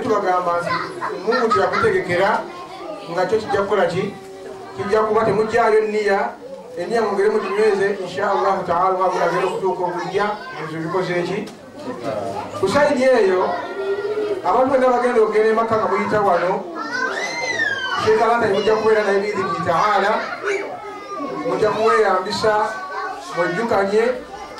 tubagamba nti omungu kyeyakutegekera nga kyo kijja kukola ki kijja kuba temugyayo niya eniya mugere muginyweze insha allahu taala wabulagera okutuuka okujja ebyo bikoze ki kusaidi eyo abantu bonna bagenda okugenda emakka nga muyita wano shekalanda mujja kubeera naye biidhini taala mujja kuweyambisa mwejjukanye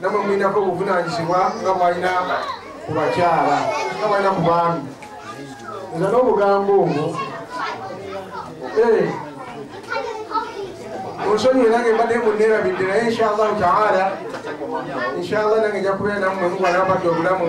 namwe mulinako obuvunanyizibwa nga bwalina ku bakyala nga bwalina ku baami nza n'obugambo obwo eh. onsonyiwe nange mbadde muneerabidde naye inshallahu taala inshallah nange njakubeera namwe mugwanabadde obulamu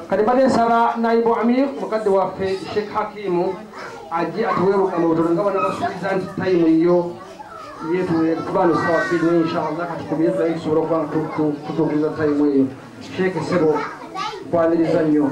kati mbadde nsaba naibu amir mukadde waffe sheikh hakimu ajje atuweeruka mu butono nga banabasuubiza nti tayimu yo yetubaano sawa bbiri naye inshallah kati tubiye tulaye tusobola okuba tutuukiriza tayimu eyo sheikh sebo kwaniriza nnyo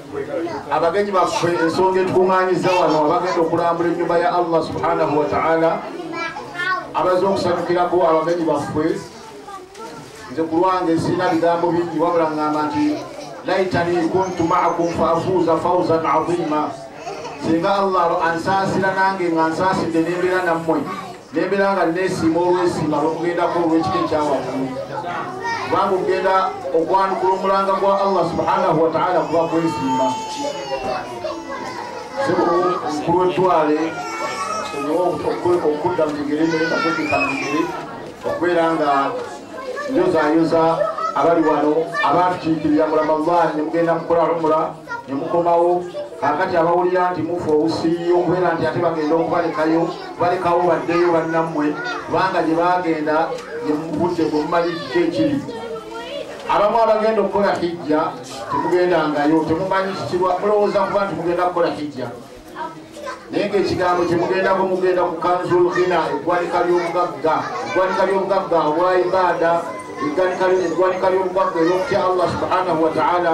abagenyi baffe ensonga etukuŋŋanyiza wano abagenda okulambula ennyumba ya allah subhanahu wataala abaza okusanyukirako abagenyi baffe nze ku lwange sirina bigambo bingi wabula ŋŋamba nti laitani kuntu maakum faafuuza fauzan aziima singa allah ansaasira nange nga nsaasidde n'embeera nammwe nembeera nga nesiima olwesiima lwokugendako olwekika ekyawaggulu kubanga okugenda okwanukula omulanga gwa allah subhanahu wataala kuba kwesiima kulwetwale okudda mugere nayeakwekeka mugere okubeera nga njozayoza abali wano abatukiikirira mulama llah nemugenda mukola lumula nemukomawo kakati abawulira nti mufu obusiiyo okubeera nti ate bagenda okubalekayo balekawo baddeyo bannammwe kubanga gye baagenda yemubudde gwe mumanyi kiki ekiri abamu abagenda okukola hijja temugendangayo temumanyi kikirwa mulowooza kuba nti mugenda kukola hijja naye ngaekigambo kyemugendako mugenda ku kanzul hina eggwanika ly'obugagga eggwanika ly'obugagga obwa ibaada eggwanika ly'obugagga eryokutya allah subhanahu wataala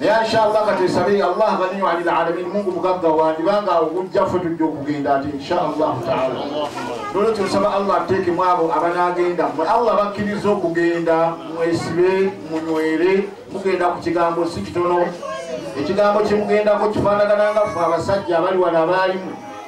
naye inshallah katesabe allah ganiyo ali lalamin mungu mugagga wandi banga okujja fe tujja okugenda ati inshallahu taala nolo kyosaba allah ateeke mu abo abanagenda mwe allah bakkiriza okugenda mwesibe munywere mugenda ku kigambo si kitono ekigambo kyemugendako kifaanagananga fe abasajja abali wano abaalimu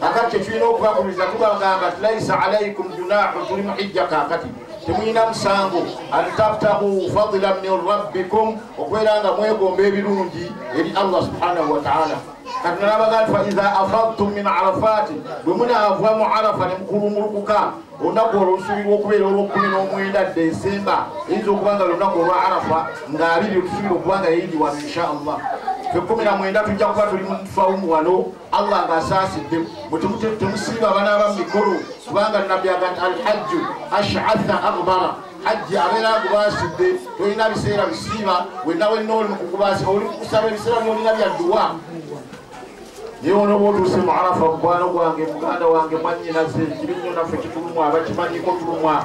kakati kyetulina okubagumiza tubagamba laisa alaikum junahu tuli muhijja kakati temulina musango antabtahu fadila min rabbikum okubeera nga mwegomba ebirungi eri allah subhanahu wataala katinalabagati faiza afadtum min arafati bwe munaava mu arafa ne mukulumulukuka olunaku olwo lusubirwa okubeera olwokumi n'omwenda dde esemba eyinza okuba nga lunaku olwa arafa nga abiri otusubira okuba nga yeyindiwano insha allah fekumi na mwenda tujja kuba tuli mufawumu wano Allah nga asaasidde mutemusiiba abanaaba mu mikolo kubanga nabbi aga nti alhajju ashatha agbara hajji abeera agubaasidde tolina biseera bisiiba wenna wenna oli mukukubaasi oli mukusaba ebiseera byolina bya dduwa naye wona oba otuuse mu arafa mukwano gwange muganda wange mwanyinaze kiri nnyo naffe kitulumwa abakimanyiko tulumwa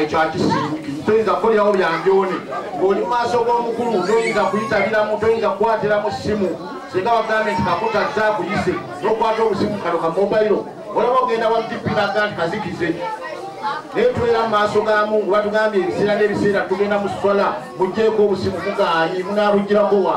ekyo akisingi toyinza kukolyawo byanjoone ng'oli mu maaso g'omukulu toyinza kuyitabiramu toyinza kukwatiramu ssimu singa bagambye nti kakuta zakuyise nokwata obusimu kano ka mobailo olaba ogenda wa dp naga nti kazikize naye tubeera mu maaso ga mungu batugambye ebiseera n'ebiseera tugenda mu swala mugjeeko obusimu mugaanyi munaabugirako wa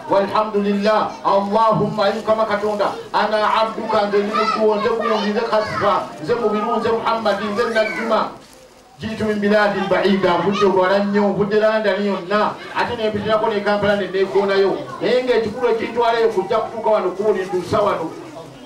walhamdulillah allahumma ayi mukama katonda ana abduka nze ndi mudduwo nze gundi nze kasifa nze mubiru nze muhammadi nze najjuma jitu min biladi lbaida nvudde wala nnyo nvudde landani yonna ate nempitirako nekampala nenegonayo naye ngaekikulu ekintwalayo kujja kutuuka wano kubulintuusa wano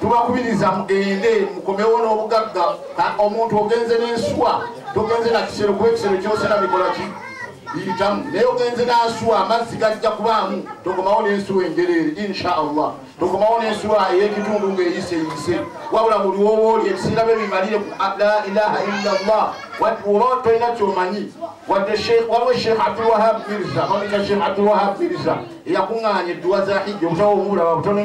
tubakubiriza mugende mukomewo n'obugagga omuntu ogenze n'ensuwa togenze na kisero kuba ekisero kyosera bikola ki biyitamu naye ogenze n'asuwa amazzi gajja kubaamu tokomawo n'ensuwa enjereere insha allah tokomawo n'ensuwa ey'ekitundu ng'eyiseyise wabula buli wowooli ebiseera bye bimalire ku la ilaha illa llah oba tolina kyomanyi wadde waliwo sheikh abdulwahab mirza mamika sheikh abdulwahab mirza eyakuŋŋaanya edduwa za hijja obutawa omubulaba butono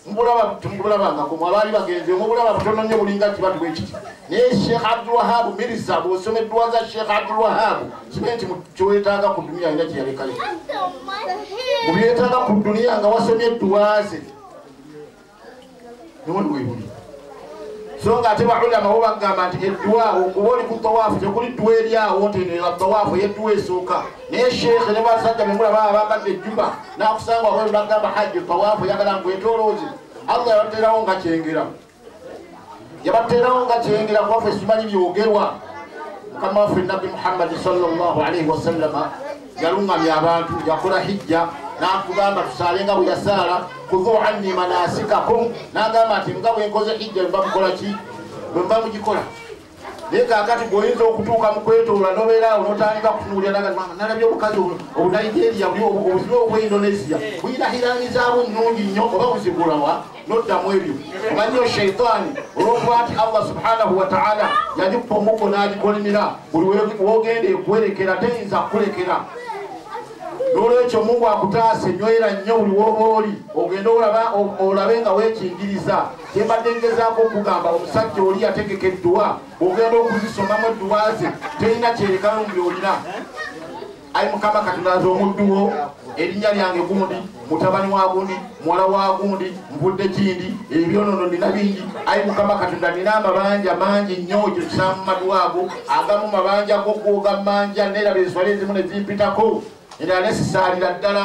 mubulaba temubulabangako mu abaali bagenze omubulaba butono nnyo bulinga kibatu bwe kiti naye sheekh abdulwahabu mirisa bw'osoma edduwa za sheekh abdulwahabu kibe nti kyoyetaaga ku duniya alina kyeyalekayo mu byetaaga ku duniya nga wasomye edduwa ze newoli webuli so nga ate baulama bo bagamba nti edduwa okuba oli ku tawaafu tekuli dduwa eryawo nti eno yatawaafu eyedduwa esooka naye sheekhe ne basajja bemula baba bambadde ejjuba nakusanga wabwe bagamba hajji tawaafu yagala ngu etoloozi allah yabaterawo nga kyengera yabateerawo nga kyeyingira kuba fe simanyi byogerwa mukama waffe nabbi muhammadi salllah alaihi wasallama yaluŋŋamya abantu yakola hijja natugamba tusaale nga bwe yasaala kuvu anni manasikakum nagamba nti nga bwenkoze hijja bwebamukola ki bwemba mugikola naye kakati gweoyinza okutuuka mu kwetoola nobeera awo notandika kutunuulira naga mama nalabye obukazi obunigeria buli obuzibu obwa indonesia buyina hirangizaabo nnungi nnyo oba buzigulawa noddamu ebyo omanyo sheitaani olwokuba nti allah subhanahu wataala yagikupa omuggo n'agikolimira buli wogenda ekuwerekera teyinza kukulekera nolwekyo mungu akutaase nywera nnyo buli woba oli ogende olabe nga wekingiriza Kyembadde ngezaako okugamba omusajja oli yategeka edduwa ogenda okuzisomamu edduwa ze terina kyerekano mu byolina ayi mukama katondaza omudduwo erinnya lyange gundi mutabani wa gundi muwala wa gundi nvudde kindi ebyonono nina bingi ayi mukama katonda nina amabanja mangi nnyo ekyo kisamu madwago agamu mabanja gokwoga manja neraba enswala ezimu nezimpitako era nesisaalira ddala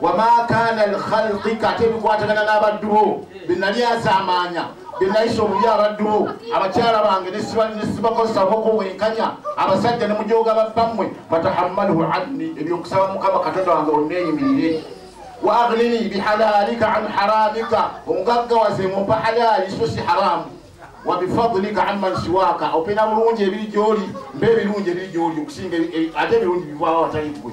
wama kana lkhalqika ate bikwatagana n'abaddu bo benali azaamaanya benayisa obubi abaddu bo abakyala bange nesibakozesako kuwenkanya abasajja ne mujooga babbammwe fatahammalhu anni ebyokusaba mukama katonda wange onneeyimirire wa agnini bihalalika an haramika ongaggawaze mumpa halaali so si haramu wabifadulika amman siwaaka opena bulungi ebiri gyoli mba ebirungi ebiri gyoli okusinga ate ebirungi bivaawo awatali ggwe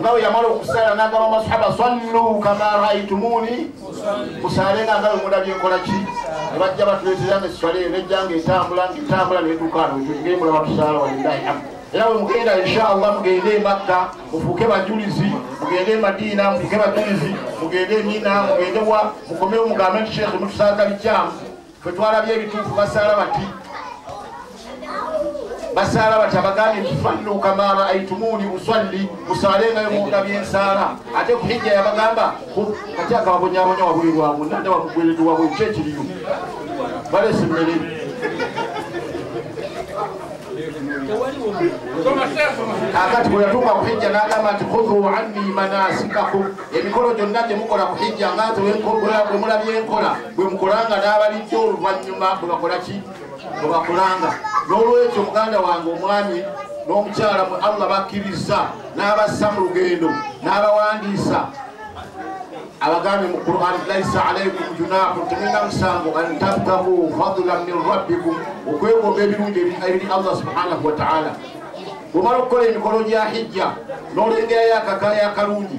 nga bwe yamala okusaala n'agamba masahaba sallu kama raitumuni musaale nga nga bemulabye nkola ki ne bajja batuleetera nga esswala eyo nejja nga etambula nga etambula netuuka ano ngeri mulaba tusaala walillahi hamdu era bwe mugenda inshallah mugende emakka mufuuke bajulizi mugende emadiina mufuuke bajulizi mugende emina mugende wa mukomewo mugambe nti sheekhe mutusaagalijamu Fwe twalabye ebituufu basaala bati basaala bati abagambye nti fannu kamaama aitumuuni uswalli musaale nga yomuwuga byensaala ate ku hijja yabagamba kati akababonyabonya wabuli lwamu nanda wamugweredu wabwe ki ekiriyo balesa emmere akati bwe yatuuka ku hijja n'agamba nti khudhu anni manasikakum emikolo gyonna gye mukola ku hijja nga nze bwe mulabye nkola bwe mukolanga n'abalidde oluvannyuma bwe bakola ki bwe bakolanga n'olwekyo muganda wange omwami n'omukyala mwe allah bakkirizza n'abassa mu lugendo n'abawandiisa abagambe mu quran laisa alaikum junahu temulina musango an tabtahu fadlan min rabbikum okwegomba ebirungi ebiri allah subhanahu wataala bwomala okukola emikolo gya hijja n'olengerayo akakaya akalungi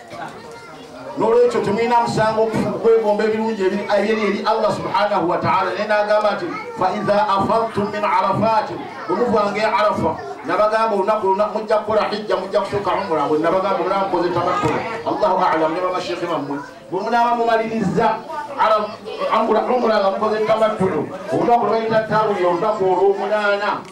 nolwekyo temulina musango kwegomba ebirungi ebyeri eri allah subhanahu wataala naye nagamba nti faiha afadtum min arafati omuvanga e arafa nabagamba olunaku luna mujja kukola hijja mujja kutuuka umura bwe nabagamba olaba mukoze tabakkula allahu alamu ne babasheekhe bammwe bwe munaaba mumaliriza umura nga mukoze tabakkulu olunaku lwebayita tawuli olunaku olwomunaana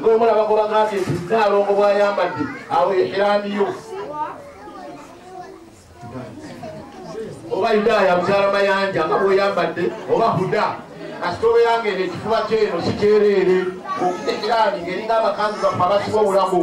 nomulaba gobagambye nti nnaalongo bwayambadde awo ehiramiyo oba yudaaya mukyala mayanja nga bweyambadde oba huda kasita obeeranga eno ekifuba kyeno sikyereere okitekerani ngeringa abakanzi baffe abasiba obulago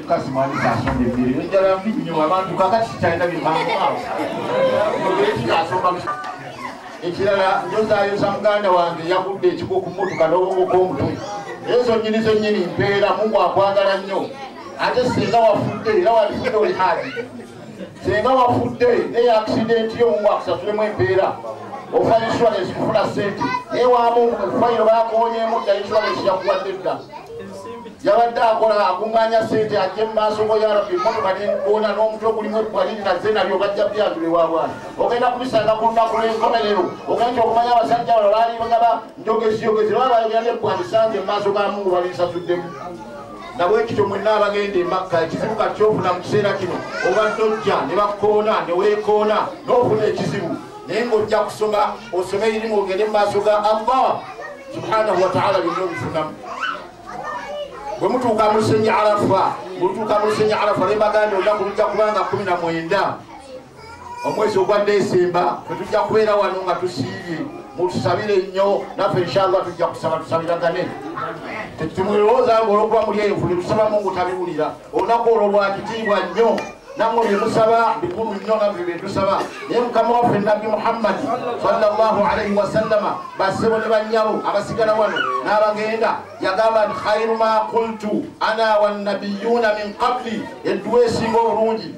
tukasimanyisa asomba emmere enjala mbi nnyo abantu kakati kikyalina byemanguawo ekikasomba ekirala njozayosa muganda wange yagudde ekiko ku motoka n'obongoko omutwe ezo nnyini zennyini mpeera mungu akwagala nnyo ate singa wafudde era walifudde oli haji senga wafudde naye akisidenti yo omu akusasulemu empeera ofa insurance kufuna sente naye wamungu mufayiro bakonyeemu dda insurance yakuwadde dda yabadde akola akuŋŋanya sente ajje mu maaso go yarabi emotoka nenkuona n'omutwe ogulimu ebbwaliri naze nabyo bajja byatule wa bwana ogenda kubisanga ku lunaku lw'enkomerero ogenda okumanya abasajja bano baali bagaba njogeziyogezi lwaba bayogera n'ebbwandisange mu maaso ga mungu balinsasuddemu nga bwekityo mwenna abagenda emakka ekizibu kati kyofuna mu kiseera kino obadde ojja ne bakukoona ne weekoona n'ofuna ekizibu naye ng'ojja kusoma osome erimu ogende mu maaso ga allah subhanahu wataala byonna obifunamu bwe mutuuka mu lusenyi arafa bwemutuuka mu lusenyi arafa ne mbagambye olunaku lujja kubanga kumi na mwenda omwezi ogwa desemba fetujja kubeera wano nga tusiibye mutusabire nnyo naffe inshallah tujja kusaba tusabiragane tetumulowooza nga olwokuba muli eyo fuli tusabamu ngutabiwulira olunaku olwo lwakitiibwa nnyo namwe byemusaba bikulu nnyo naffe byetusaba naye mukama waffe nabbi muhammadi salllahu alaihi wasallama basebo ne bannyabo abasigala wano n'abagenda yagamba nti khairu ma kultu ana wannabiyuuna min qabli edduwa esinga obulungi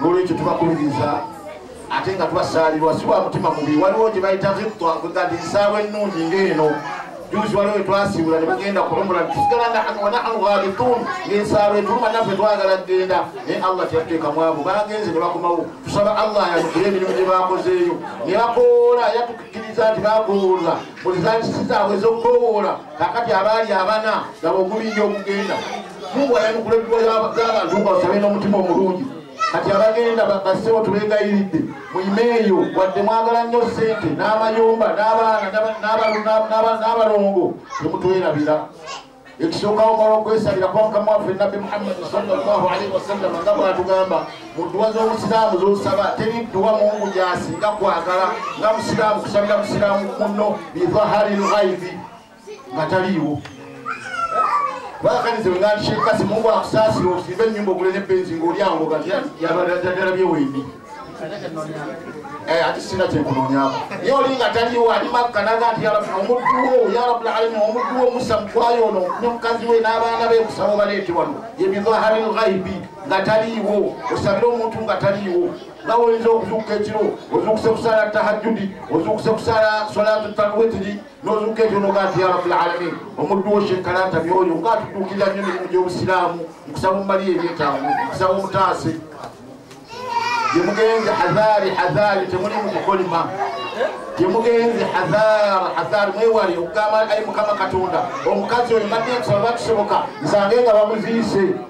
nolwekyo tubakubiriza ate nga tubasaalirwa si wa mutima mubi waliwo gye bayita zittwa kwega nti nsaawa ennungi ngaeno juzi waliwo wetwasiibula ne bagenda kulumula tusigala nahanu wanahanu ghalituun ng'ensaalo etuluma naffe twagala kugenda naye allah teyatuteeka mwavu bagenze ne bakomawo tusaba allah ayanukire emirimu gye bakozeeyo ne bakoola yatukkiriza nti bakoola buli zantisi zaabwe ez'okukowoola kakati abaali abana nabo ogulinja okugenda mungu ayanukula ebiwa by'abantu nga basabe n'omutima omulungi kati abagenda basebo tubegayiridde muyimeeyo wadde mwagala nnyo ssente n'amayumba n'abaana n'abalongo temutwerabira ekisookawo mala okwesalira kuba mukama waffe nabbi muhammadi salllahu alaihi wasallama nga bwatugamba mu dduwa z'obusiraamu z'osaba teri dduwa mungu gyasinga kwagala nga musiraamu kusabira musiraamu munno bidhahari lghaibi nga taliiwo bakanize wengandikyekasi mungu akusaasira osimba ennyumba ogule ne benzi ngaoli awo kati yabadala byewendi eh, ati sina kyenkunonyako naye oli nga taliwo ali makka naga nti yarabi omudduwo yarabul alami omudduwo musa mukwayo ono ne mukazi we n'abaana be kusaba obaleete wano yebidhahari lghaibi nga taliiwo osabire omuntu nga taliiwo nawe oyinza okuzuuka ekiro ozuukuse kusaala tahajjudi ozuukuse kusaala solatu talwetiri nozuuka ebyono gaati ya rabul alamin omuddu wo shekalanta byoyo nga atutuukirira nnyo mirimu gy'obusiraamu nkusaba omumaliyo ebyetaago nkusaba omutaase gyemugenze hazari hazari temuli mu kukolima gyemugenze hazari hazari mwewali okugamba ayi mukama katonda omukazi oyo madde nkusaba bakisoboka nsange nga bamuziise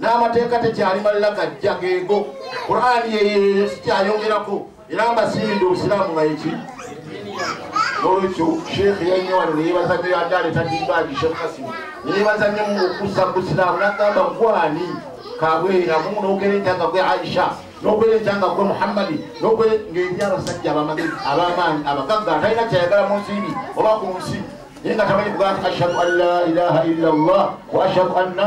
n'amateeka tekyali malala gajja geego qurani yeyeyo sikyayongerako era mbasiimidde obusiraamu nga yeki nolwekyo sheekh yannyo wano neyebaza nyo yadaleeta dimbaagi sheekh kasim neyebaza nyo okussa mu busiraamu nagamba gwani kabwera mu nogereeta nga gwe aisha nogereeta nga gwe muhammadi nogere ng'eri abasajja abamagezi abamaanyi abagagga atalina kyayagala mu nsimbi oba ku nsi naye nga tamanyi kugaa nti ashhadu an la ilaha illa llah wa ashhadu anna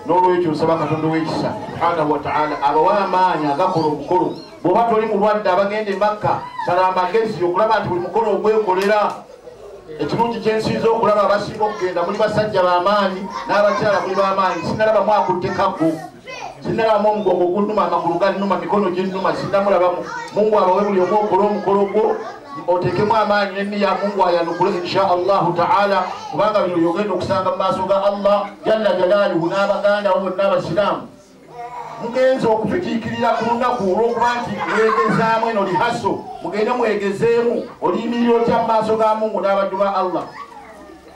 n'olwekyo nsaba katonda ow'ekisa subhanahu wataala abawa amaanyi agakola omukolo bw'oba toli mulwadde abagenda emakka sala amagezi okulaba nti buli mukolo ogwekolera ekirungi kyensinza okulaba abasinga okugenda muli basajja bamaanyi n'abakyala muli bamaanyi sinalaba mwakutte kaggo sinalaba mu omugongo gunuma amagulu ganuma mikono ginuma sinamulabamu mungu abawe buli omu okole omukolo gwo otekemu amaanyi neniya mungu ayanukule insha allahu taala kubanga bino byogenda okusanga mu maaso ga allah jalla jalaluhu n'abaganda bo bonna abasiraamu mugenze okufitiikirira ku lunaku olwokuba nti mwegezaamu eno lihaso mugende mwegezeemu oliyimirira otya mu maaso ga mungu n'abaddu ba allah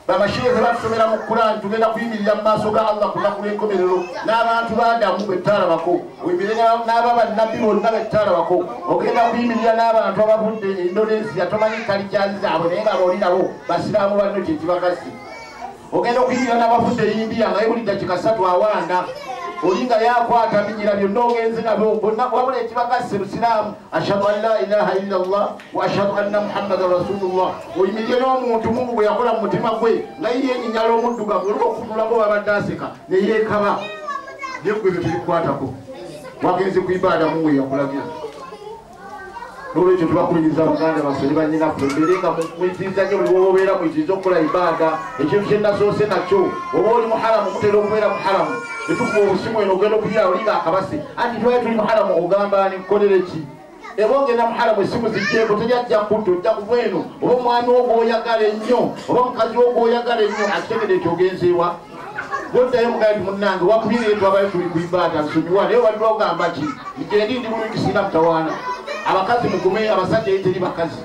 Bamashiye zebatusomera mu Kurani tugenda kuyimirira mu maaso ga Allah ku lunaku lw'enkomerero n'abantu b'Adamu be tutalabako oyimire n'aba bannabbi bonna be tutalabako ogenda kuyimirira n'abantu abavudde e Indonesia tomanyi kalikyazi zaabwe naye nga booli nabo basiraamu banno kye kibakasi ogenda okuyimirira n'abavudde e India nga ye buli dakika ssatu awanda oli nga yakwata binyira byonna ogenze nabyo bonna wabula ekibakasi busiraamu ashhadu an la ilaha illa llah wa ashhadu anna muhammadan rasulullah oyimirire n'omuntu mungu bwe yakola mu mutima gwe nga ye yenyinyala omuddugavu olwo okufutulako babadde aseka ne yeekaba yegwe ebyo tebikukwatako wagenze ku ibaada mungu eyakulagira nolwekyo tubakubiriza baganda baffe ne banyinaffe mbeere nga muyitiriza nyo buli woba obeera muyitiriza okukola ibaada ekintu kyenasoose nakyo oba oli muharamu mutera okubeera muharamu etukuba obusimu eno ogenda okubyala olinga akabase anti twali tuli muharamu ogamba ani kukolere ki eba ogenda muharamu esimu zijjeeko teyajja kutta ojja kuva eno oba omwami wo gwoyagala ennyo oba mukazi wo gwoyagala ennyo akitegede nti ogenzeewa goddayo mugaa ti munnange wakubye naye twabayo tuli kuibaata nsonyiwa naye wali ogamba ki njendi ndi bulungi sirina mutawaana abakazi mugume abasajja yeteri bakazi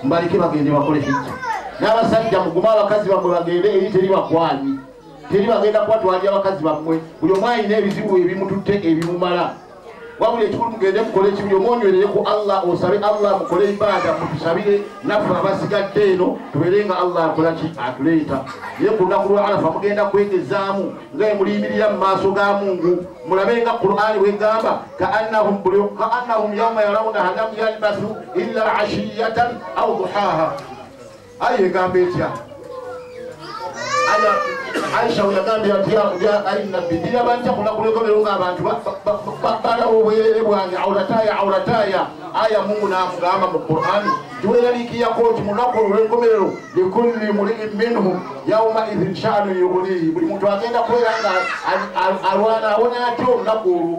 mbaleke bagende bakole hijja n'abasajja mugume abakazi bamwe bagende eri teri bakwanyi teri bagenda kuba twalya abakazi bammwe buli omu alina ebizibu ebimututte ebimumala wabuli ekikulu mugende mukole ekibuli omu onywerere ku allah osabe allah mukole ibaada mutusabire naffe abasigadde eno tubeere nga allah akola ki atuleeta naye ku lunaku lwa alafa mugenda kwegezaamu nga emuliyimirira mu maaso ga mungu mulabe nga qur'ani bwegamba kaannahum yauma yarawunaha lam yalbasu illa ashiyatan au duhaha ayi egamba etya aisha weyagambye nti yakulya ali nabbi ndiyaba ntya kunakulekomero nga abantu balawo obwerere bwange aulataya aulataya aya mungu namugamba mu qurani tiweraliikiyako nti munaku olwenkomerero likulli muliin minhum yauma idhin shanu yugunihi buli muntu agenda kubeera nga alwana awona atya olunaku olwo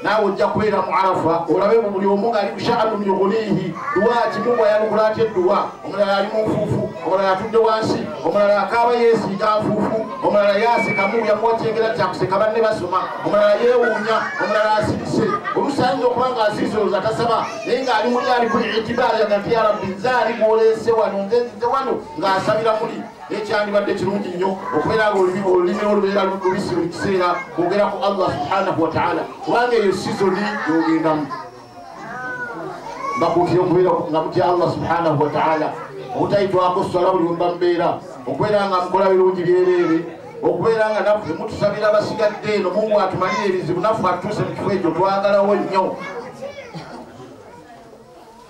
naawe ojja kubeera mu arafa olabe mu buli omu ngaali mushaanun yughuniihi duwa kimumu ayanukula atya edduwa omulala ali mu nfuufu omulala atudde wansi omulala akaaba yeesiiga nfuufu omulala yaasekamu yamuwa kyengera kyakuseka banne basoma omulala yeewuunya omulala asirise oluusi ayinza okuba nga asirise olwoza tasaba naye ng'ali muli ali ku itibaari agati ya rabbi nze ali gwoleese wano nze nzize wano ng'asabira muli naye kyandibadde kirungi nnyo okubeera nga olulimi olulimi olubeera lubisi buli kiseera kwogera ku allah subhanahu wataala kubanga eyo sizoni yogendamu mbakuutira okubeera nga mutya allah subhanahu wataala obutayitwako swala buli wemba mbeera okubeera nga mukola birungi byereere okubeera nga naffe mutusabira abasigadde eno mungu atumalire ebizibu naffe atuuse mu kifo ekyo twagalawo nnyo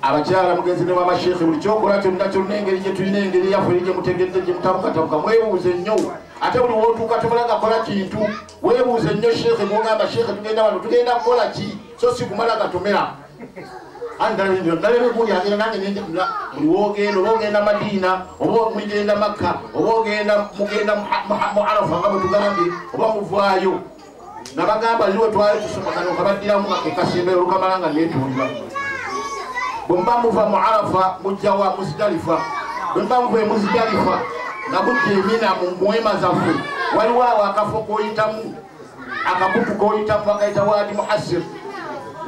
abakyala mugenzi ne wama sheikh buli kyokola kyonna kyonna engeri gyetulina engeri yaffe eri gyemutegedde gyemutabukatabuka mwebuuze nnyo ate buli wotuuka tumulaga kola kintu webuuze nnyo sheikh gwogamba sheikh tugenda wano tugenda kukola ki so si kumala gatomera andalabekulyagera nange nenjaa buli wogenda oba ogenda madiina oba mugenda makka oba ogenda mugenda mu arafa nga bwetugambye oba muvaayo nabagamba liwe twali tusomakano kabaddiramu ekasimbero lukamala nga netuulira bwemuba muva mu arafa mujja wa muzidalifa bwemuba muva emuzidalifa nabujja emina mu mwema zaffe waliwo awo akafo koyitamu akakutu koyitamu bakayita wadi muhasir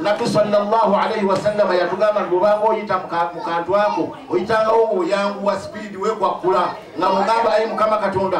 nabbi salllahu alaihi wasallama yatugamba nti obanga oyita mu kantu ako oyitangawo ngaoyanguwa sipiidi wekwakkula nga mugamba ayi mukama katonda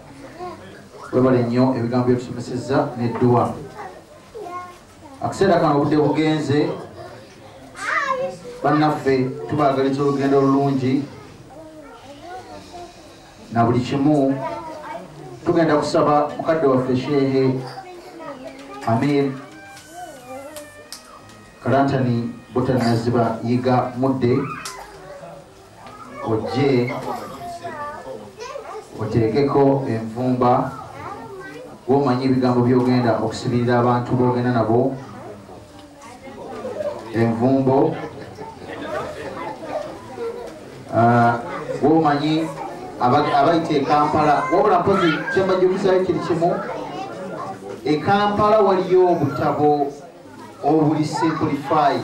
webale nnyo ebigambo byetusomeseza nedduwa akaseera kano obudde bugenze bannaffe tubagaliza olugendo olulungi na buli kimu tugenda kusaba mukadde waffe sheehe amir kalantani butanaziba yiga mudde ojje oteekeko envumba womanyi ebigambo byogenda okusibirira abantu bogenda nabo envumbo ah, womanyi abayita ekampala wabula mpozi kyembajukizayo kiri kimu ekampala waliyo obutabo obuli simplified